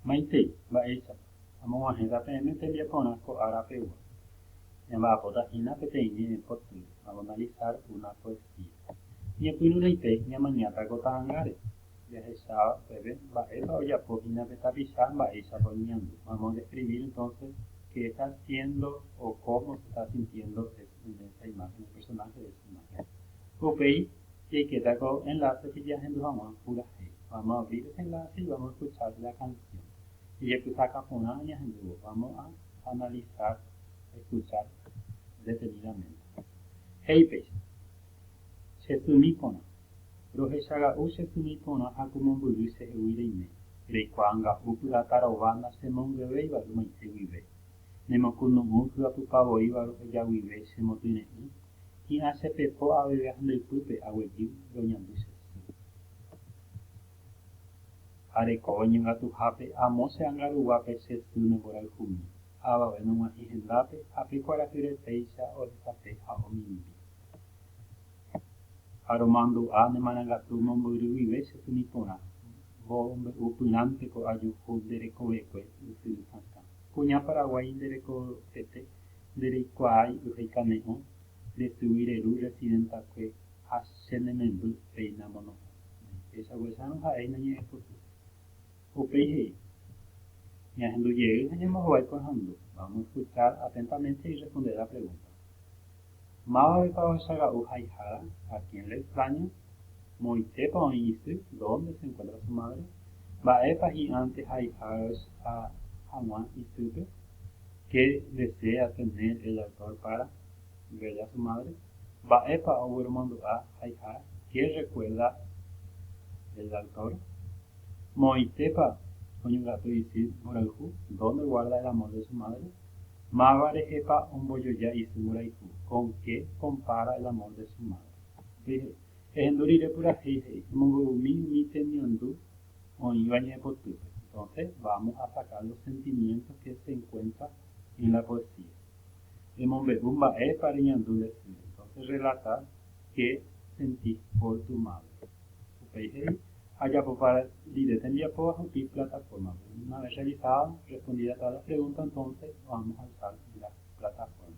Maitei. Mba'éichapa? Amog̃uahẽta peẽme tembiaporã ko ára pegua. Ñamba'apóta hína peteĩ ñe'ẽ potýpe, avanalizar una poesía. Ñepyrũrãite ñamañáta ko ta'angáre, jahecháva upépe mba'épa ojapo hína pe tapicha mba'éichapa oñeñandu. Vamos a describir entonces qué está haciendo o cómo se está sintiendo es en esa imagen, el personaje de esa imagen. Upéi. Jaiketa ko enlacepe jahendu hag̃ua purahéi. Vamos a abrir este enlace y vamos a escuchar la canción. Ijepysaka porã añahendúvo. Vamos a analizar, escuchar detenidamente. He'i péicha, Chesymi porã. Rohechaga'u che symi porã ha ku mombyry chehegui reime. Reikuaa nga'u pyrata rova nachemonguevéiva ymaite guive. Nemokunu'ũ hyapypa voíva roheja guive che motyre'ỹ Hi'ãsepepo aveve handypýpe aguejy roñandu che sy. Ha rekove ñongatuhápe amo che anga ruguápe che sy ne mborayhumi, avave nog̃uahẽ hendápe ha pe kuarahyre péicha ohesape ha omimbi. Ha romandu'a ne marangatu mombyry guive che symi porã, mbo mbe'u pyrãnte ko ajuhu nde rekovekue ysyry sakã. Kuña Paraguái nde rekovete nde reikuaái ohekane'õ nde tyvy reru residentakue ha che ne memby reina mono'õ ne péicha guesárõ ha'éi nañe'ẽpoty. Upéi he'i, Ñahendu jey ha ñambohovái kuahandu, vamos escuchar atentamente y responder la pregunta. Mávapepa ohecha ra'u haihára? A quién le extraña? Moõitépa oĩ isy, dónde se enkuéntra su mádre, mba'épa hi'ãnte haihágach ha hag̃ua isýpe, ke desea tener el autor pára ver a su madre, mba'épa ogueromandu'a haiha, ke rrekuerda el autor, moõitépa oñongatu isy mborayhu, dónde guarda el amor de su madre, máva rehepa ombojoja isy mborayhu, kon ke kompára el amor de su madre. He'i, Ehendu rire purahéi, he'i, emombe'umi umi temiandu oĩva ñaepotýpe. Entonce, vamos a sacar los sentimientos que se encuentra en la poesía. Emombe'u mba'épa reñandu nde sy. Entonces, relata qué sentís por tu madre. Upéi he'i, Ajapopa rire tembiapo ahupi plataforma-pe. Una vez realizada, respondida todas las preguntas, entonces vamos a alzar la plataforma.